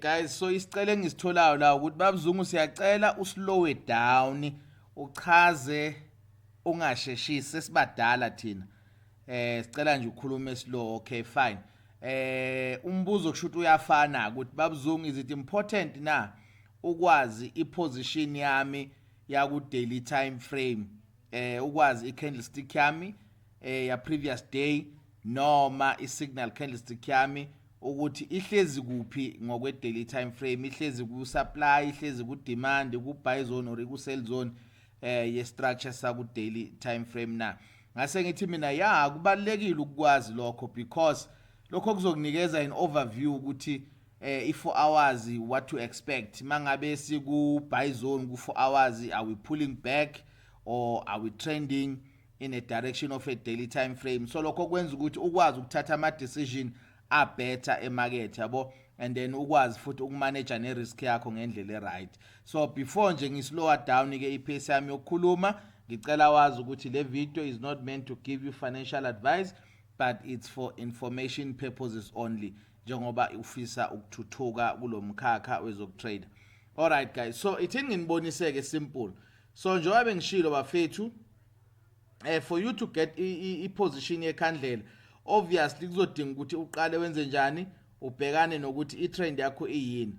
guys so isicelo engisitholayo la ukuthi babzungu siyacela uslowe down uchaze ungasheshisi sesibadala thina eh sicela nje ukhulume slow okay fine eh umbuzo kushuthi uyafana ukuthi babzungu is it important na ukwazi iposition yami yaku daily time frame eh ukwazi icandlestick yami eh ya previous day noma isignal candlestick yami ukuthi ihlezi kuphi ngokwe daily time frame ihlezi ku supply ihlezi ku demand ku buy zone or ku sell zone eh ye structure sa ku daily time frame na ngase ngithi mina ya kubalekile ukwazi lokho because lokho kuzokunikeza an overview ukuthi eh i 4 hours what to expect mangabe siku buy zone ku 4 hours are we pulling back or are we trending in a direction of a daily time frame so lokho kwenza ukuthi ukwazi ukuthatha ama decision a better emarket yabo and then ukwazi futhi ukumanage ne risk yakho ngendlela eright so before nje ngislower down ke ipace yami yokukhuluma ngicela wazi ukuthi le video is not meant to give you financial advice but it's for information purposes only njengoba ufisa ukuthuthuka kulomkhakha wezokutrader all right guys so ithini nginiboniseke simple so njengoba bengishilo bafethu eh for you to get i position yekhandlela obviously kuzodinga ukuthi uqale wenze njani ubhekane nokuthi i trend yakho iyini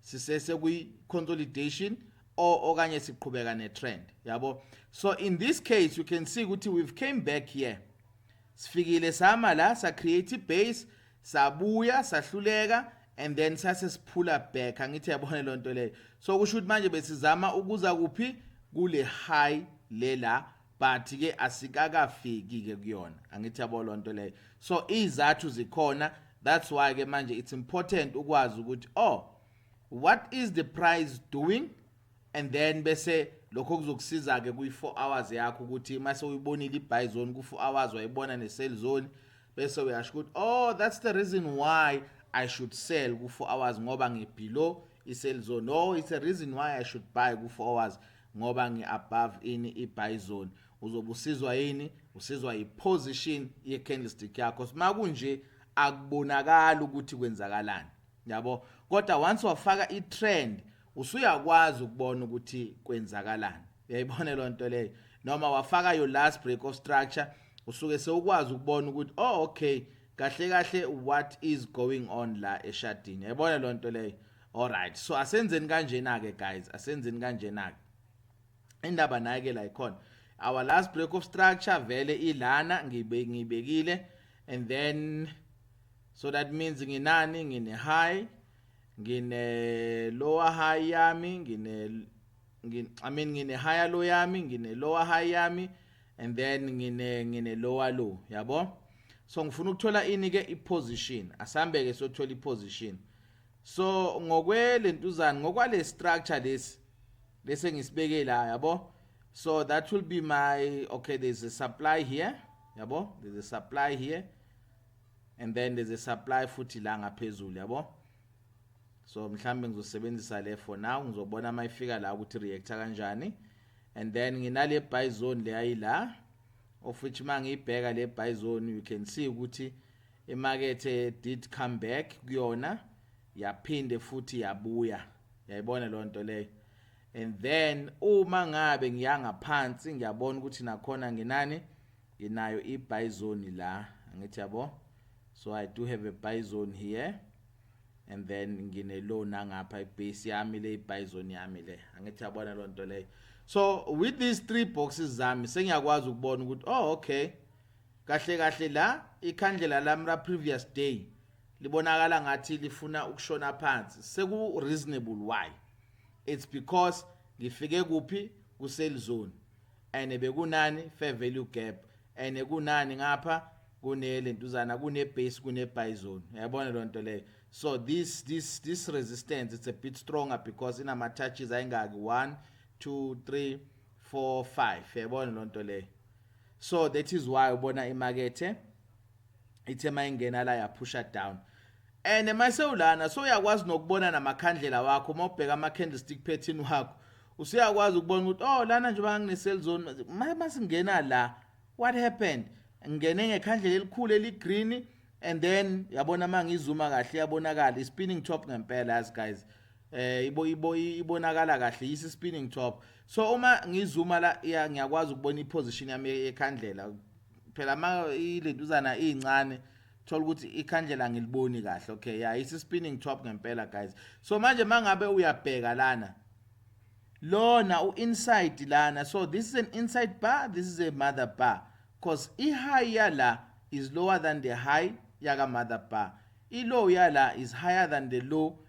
sisese kwi consolidation or okanye siqhubeka ne trend yabo so in this case you can see ukuthi we've came back here sifikile sama la sa create i base sabuya sahluleka and then sase siphula back angithi yabona le nto leyo so kusho ukuthi manje besizama ukuza kuphi kule high lela but ke asikakafiki ke kuyona angithi yabo lonto leyo so izathu zikhona that's why ke manje it's important ukwazi ukuthi oh what is the prize doing and then bese lokho kuzokusiza ke kuyi 4 hours yakho ukuthi mase uyibonile ibuy zone ku 4 hours wayibona ne sell zone bese uyasho ukuthi oh that's the reason why i should sell ku 4 hours ngoba ngibelow i sell zone no it's a reason why i should buy ku 4 hours ngoba ngi above ini i buy zone uzobe usizwa yini usizwa i position ye candlestick yakho sima kunje akubonakala ukuthi kwenzakalani yabo kodwa once wafaka i trend usuyakwazi ukubona ukuthi kwenzakalani uyayibona lo nto leyo noma wafaka your last break of structure usuke sewukwazi ukubona ukuthi oh okay kahle kahle what is going on la eshadini yayibona lonto leyo alright so asenzeni kanjena ke guys asenzeni kanjena ke indaba naye ke la ikhona our last break of structure vele ilana ngibe ngibekile and then so that means nginani ngine high ngine lower high yami ngine ngine i mean ngine higher low yami ngine lower high yami and then ngine ngine lower low yabo so ngifuna ukuthola ini ke i position asambe ke sothola i position so ngokwe lentuzana ngokwale structure lesi lesi engisibeke la yabo so that will be my okay there's a supply here yabo there's a supply here and then there's a supply futhi la ngaphezulu yabo so mhlambe ngizosebenzisa le for now ngizobona uma ifika la ukuthi reactor kanjani and then nginale buy zone leyayila of which mangiyibheka le buy zone you can see ukuthi Imakethe did come back kuyona yaphinde futhi yabuya. Yayibona lo nto leyo. And then uma ngabe ngiyanga phansi ngiyabona ukuthi nakhona nginani nginayo i buy zone la. Angithi yabo. So I do have a buy zone here. and then ngine low nangapha ibase yami le ibizon yami le angithi yabona lo nto leyo so with these three boxes zami sengiyakwazi ukubona ukuthi oh okay Kahle kahle la ikhandlela lami la previous day libonakala ngathi lifuna ukushona phansi seku reasonable why it's because ngifike kuphi ku sale zone and bekunani fair value gap and kunani ngapha kune lentuzana kune base kune buy zone uyabona lonto leyo so this this this resistance it's a bit stronger because inama touches ayingaki 1 2 3 4 5 yabona lonto leyo so that is why ubona imakethe ithe mayingena la yaphusha down and emasewulana so uyakwazi nokubona namakhandlela wakho uma ubheka ama candlestick pattern wakho usuyakwazi ukubona ukuthi oh lana nje bangine sell zone masingena la what happened ngene ngekhandlela elikhulu eligreen and then yabona mangizuma kahle yabonakala ispinning top ngempela as guys eh ibo ibo ibonakala kahle yisi spinning top so uma ngizuma la ya ngiyakwazi ukubona iposition yami ekhandlela phela ma ilentuzana incane thola ukuthi ikhandlela ngiliboni kahle okay ya yisi spinning top ngempela guys so manje mangabe uyabheka lana lona u inside lana so this is an inside bar this is a mother bar because i high yala is lower than the high yaka mother bar i low yala is higher than the low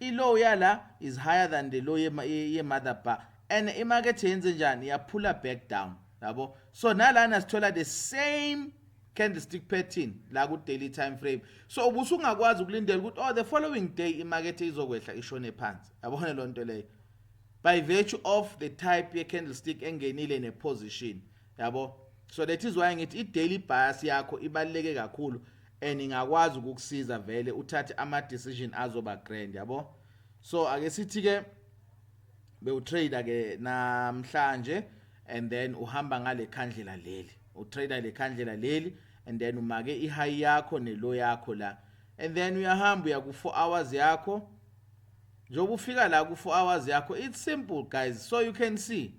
I low yala is higher than the low ye mother bar and i market yenze njani ya puller back down yabo so nalana sithola the same candlestick pattern la ku daily time frame so ubusungakwazi ukulindela ukuthi oh the following day i market izokwehla ishone phansi yabona lonto leyo by virtue of the type ye candlestick engenile ne position yabo so that is why ngithi i-daily bias yakho ibaluleke kakhulu and ingakwazi ukukusiza vele uthathe ama-decision azoba grand yabo so ake sithi-ke bewutrader ke namhlanje and then uhamba ngale khandlela leli utrader le khandlela leli and then umake i-high yakho ne-low yakho la and then uyahamba uya ku-four hours yakho njengoba ufika la ku-four hours yakho it's simple guys so you can see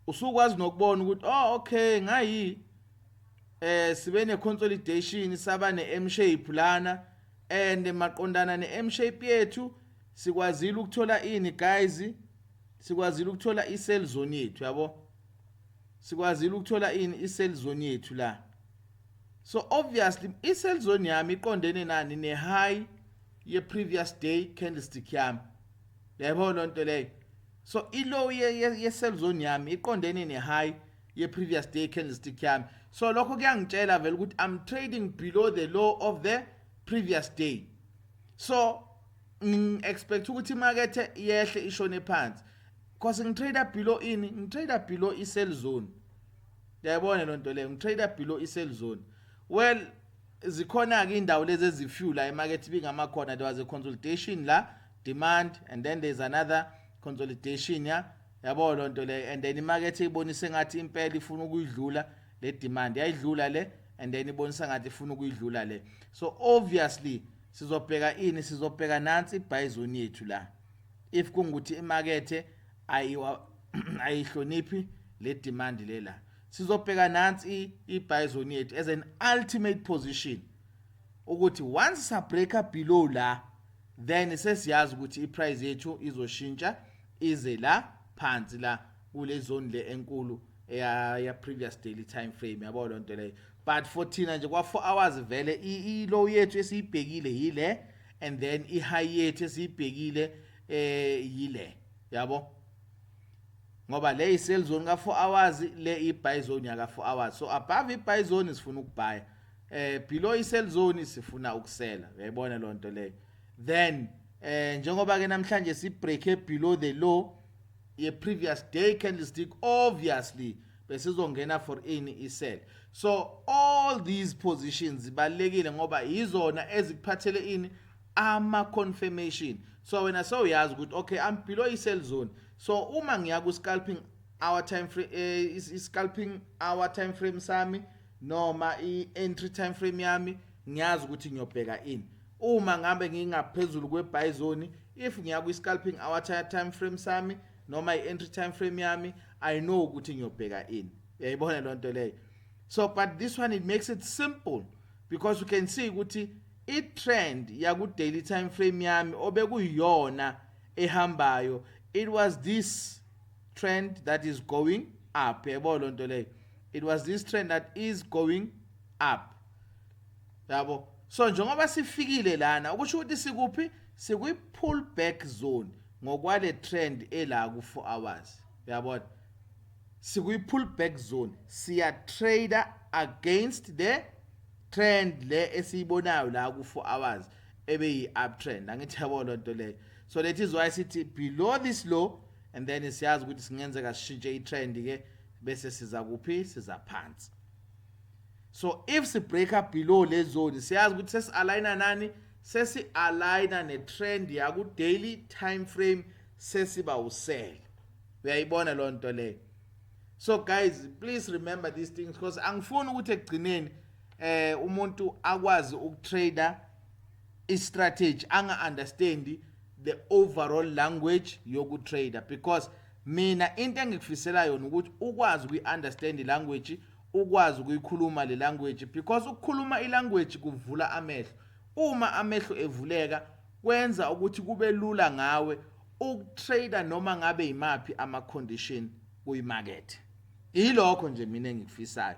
usukwazi nokubona ukuthi oh okay ngayi eh sibe ne consolidation saba ne M shape lana and maqondana ne M shape yethu sikwazile ukuthola ini guys sikwazile ukuthola i cell zone yethu yabo sikwazile ukuthola ini i cell zone yethu la so obviously i cell zone yami iqondene nani ne high ye previous day candlestick yami yayibona lonto leyo so ilow ye-cell zone yami iqondene ne-high ye-previous day candlestick yami so lokho kuyangitshela vele ukuthi i'm trading below the low of the previous day so ngi-expect ukuthi imakethe yehle ishone phansi cause ngitrade below ini ngitrade below i-cell zone yayibona loo nto leyo ngitrade below i-cell zone well zikhona-ke iy'ndawo lezi ezifyula emakethe ibingamakhona there was a consultation la demand and then there's another consolidation ya yabo loo nto leyo and then imakethe ibonise ngathi impela ifuna ukuyidlula le demand yayidlula le and then ibonisa ngathi ifuna ukuyidlula le so obviously sizobheka ini sizobheka nansi i-buy zone yethu la if kungukuthi imakethe ayihloniphi le demand le la sizobheka nansi i-buy zone yethu as an ultimate position ukuthi once sabreaker below la then sesiyazi ukuthi iprice yethu izoshintsha ize la phansi la kule zone le enkulu ya ya previous daily time frame yabo lonto leyo but for thina nje kwa 4 hours vele i low yethu esiyibhekile yile and then i high yethu esiyibhekile eh yile yabo ngoba le i sell zone ka 4 hours le i buy zone ya ka 4 hours so above i buy zone sifuna ukubhaya eh below isell zone sifuna ukusela uyayibona lo nto leyo then eh njengoba ke namhlanje si break e below the low ye previous day candlestick obviously besizongena for any isell so all these positions zibalekile ngoba yizona ezikuphathele ini ama confirmation so wena so uyazi ukuthi okay i'm below isell zone so uma ngiya ku scalping our time frame eh, is scalping our time frame sami noma i-entry time frame yami ngiyazi ukuthi ngiyobheka ini uma ngabe ngingaphezulu kwe-buy zone if ngiya kwi-scalping hour time frame sami noma i-entry time frame yami i know ukuthi ngiyobheka ini uyayibona loo nto leyo so but this one it makes it simple because you can see ukuthi i-trend yaku-daily time frame yami obekuyiyona ehambayo it was this trend that is going up yebo loo nto leyo it was this trend that is going up yabo so njengoba sifikile lana ukusho ukuthi sikuphi sikwi pull back zone ngokwale trend ela ku 4 hours uyabona sikwi pull back zone siya trader against the trend le esiyibonayo la ku 4 hours ebe yi uptrend angithi yabo lonto leyo so that is why sithi below this low and then siyazi ukuthi singenzeka sishintshe i-trend ke bese siza kuphi siza phansi so if si breaker below le zone siyazi ukuthi sesi aligner nani sesi aligner ne trend ya ku daily time frame sesiba usele uyayibona lo nto leyo so guys please remember these things because angifuni ukuthi ekugcineni eh umuntu akwazi ukutrader i strategy anga understand the overall language yoku trader because mina into engikufisela yona ukuthi ukwazi ukuyi understand language ukwazi ukuyikhuluma le language because ukukhuluma i language kuvula amehlo uma amehlo evuleka kwenza ukuthi kube lula ngawe ukutrader noma ngabe yimaphi ama condition kuyimarket yilokho nje mina engikufisayo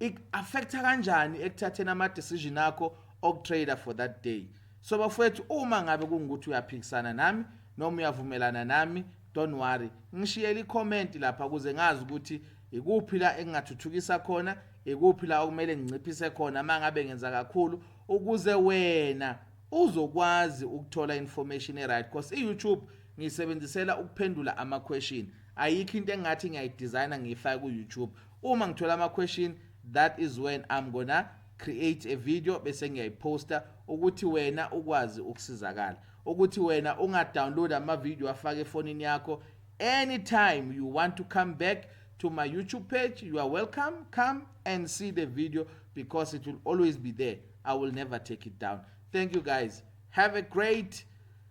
iku-affecta kanjani ekuthatheni ama-decision akho okutrader for that day so bafowethu uma ngabe kungukuthi uyaphikisana nami noma uyavumelana nami don't worry ngishiyele ikhomenti lapha ukuze ngazi ukuthi ikuphi la engingathuthukisa khona ikuphi la okumele nginciphise khona uma ngabe ngenza kakhulu ukuze wena uzokwazi ukuthola information e-right because i-youtube ngiyisebenzisela ukuphendula ama-question ayikho into engathi ngiyayidesigna ngiyifake ku-youtube uma ngithola ama question that is when I'm gonna create a video bese ngiyayiposta ukuthi wena ukwazi ukusizakala ukuthi wena unga download ama video afake efonini yakho anytime you want to come back to my YouTube page you are welcome come and see the video because it will always be there I will never take it down thank you guys have a great